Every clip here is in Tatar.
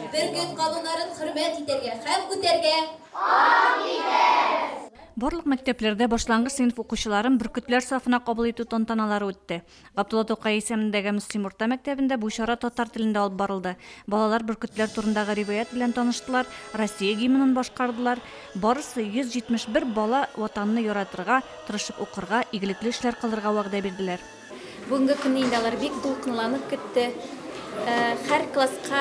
Бер көн кабыннарын хөрмәт итәргә һәм үтәргә ант итәбез! Барлык мәктәпләрдә башлангыч сыйныф укучыларын бөркетләр сафына кабул итү тантаналары үтте. Габдулла Тукай исемендәге Мөслим урта мәктәбендә бу чара татар телендә алып барылды. Балалар бөркетләр турындагы риваять белән таныштылар, Россия гимнын башкардылар. Барысы, 171 бала, Ватанны яратырга, тырышып укырга, игелекле эшләр кылырга вәгъдә бирделәр. Бүгенге көнне инде алар бик дулкынланып көтте. Хәр класска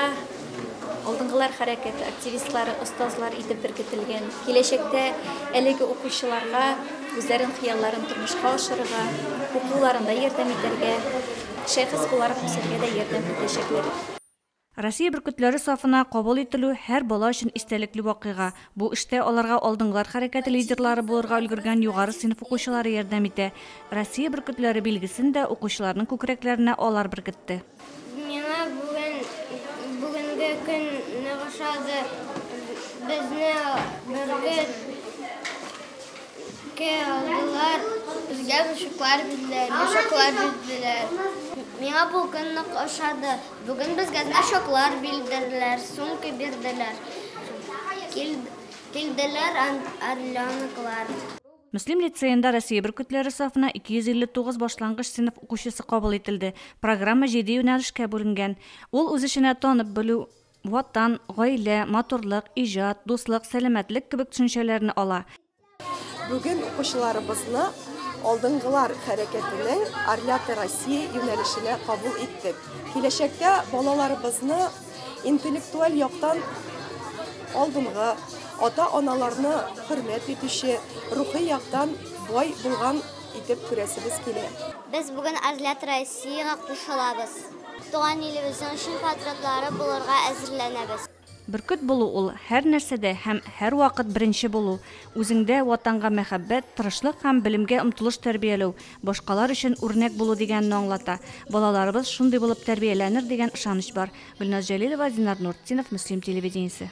алдынгылар хәрәкәте активистлары, остазлар итеп беркетелгән. Киләчәктә әлеге укучыларга үзләрен хыялларын тормышка ашырырга, укуларында ярдәм итәргә, шәхес буларак үсәргә дә ярдәм итәчәкләр. Россия бөркетләре сафына кабул ителү, һәр бала өчен истәлекле вакыйга. Бу эштә аларга Алдынгылар хәрәкәте лидерлары булырга өлгергән югары сыйныф укучылары ярдәм итә. Россия бөркетләре билгесен дә укучыларның күкрәкләренә алар беркетте. Миңа бүген, бүгенге көн нык ошады. Безне бөркет кә алдылар. Безгә мышыклар бирделәр, йошаклар бирделәр. Миңа бу көн нык ошады. Бүген безгә значоклар билдерделәр, сумка бирделәр. Килделәр орленоклар. Мөслим лицеенда Россия бөркетләре сафына 259 башлангыч сыйныф укучысы кабул ителде. Программа җиде юнәлешкә бүленгән. Ул үз эченә танып белү, Ватан, гаилә, матурлык, иҗат, дуслык, сәламәтлек кебек төшенчәләрне ала. Бүген укучыларыбызны алдынгылар хәрәкәтенең Орляты Россия юнәлешенә кабул иттек. Киләчәктә балаларыбызны интеллектуаль яктан алдынгы, ата-аналарны хөрмәт итүче, рухи яктан бай булган итеп күрәсебез килә. Без бүген Орлят Россиягә кушылабыз. Туган илебезнең чын патриотлары булырга әзерләнәбез. Бөркет булу ул, һәрнәрсәдә һәм һәрвакыт беренче булу, үзеңдә Ватанга мәхәббәт, тырышлык һәм белемгә омтылыш тәрбияләү, башкалар өчен үрнәк булу дигәнне аңлата. Балаларыбыз шундый булып тәрбияләнер дигән ышаныч бар. Гөлназ Җәлилова, Динар Нуртдинов, Мөслим телевидениесе.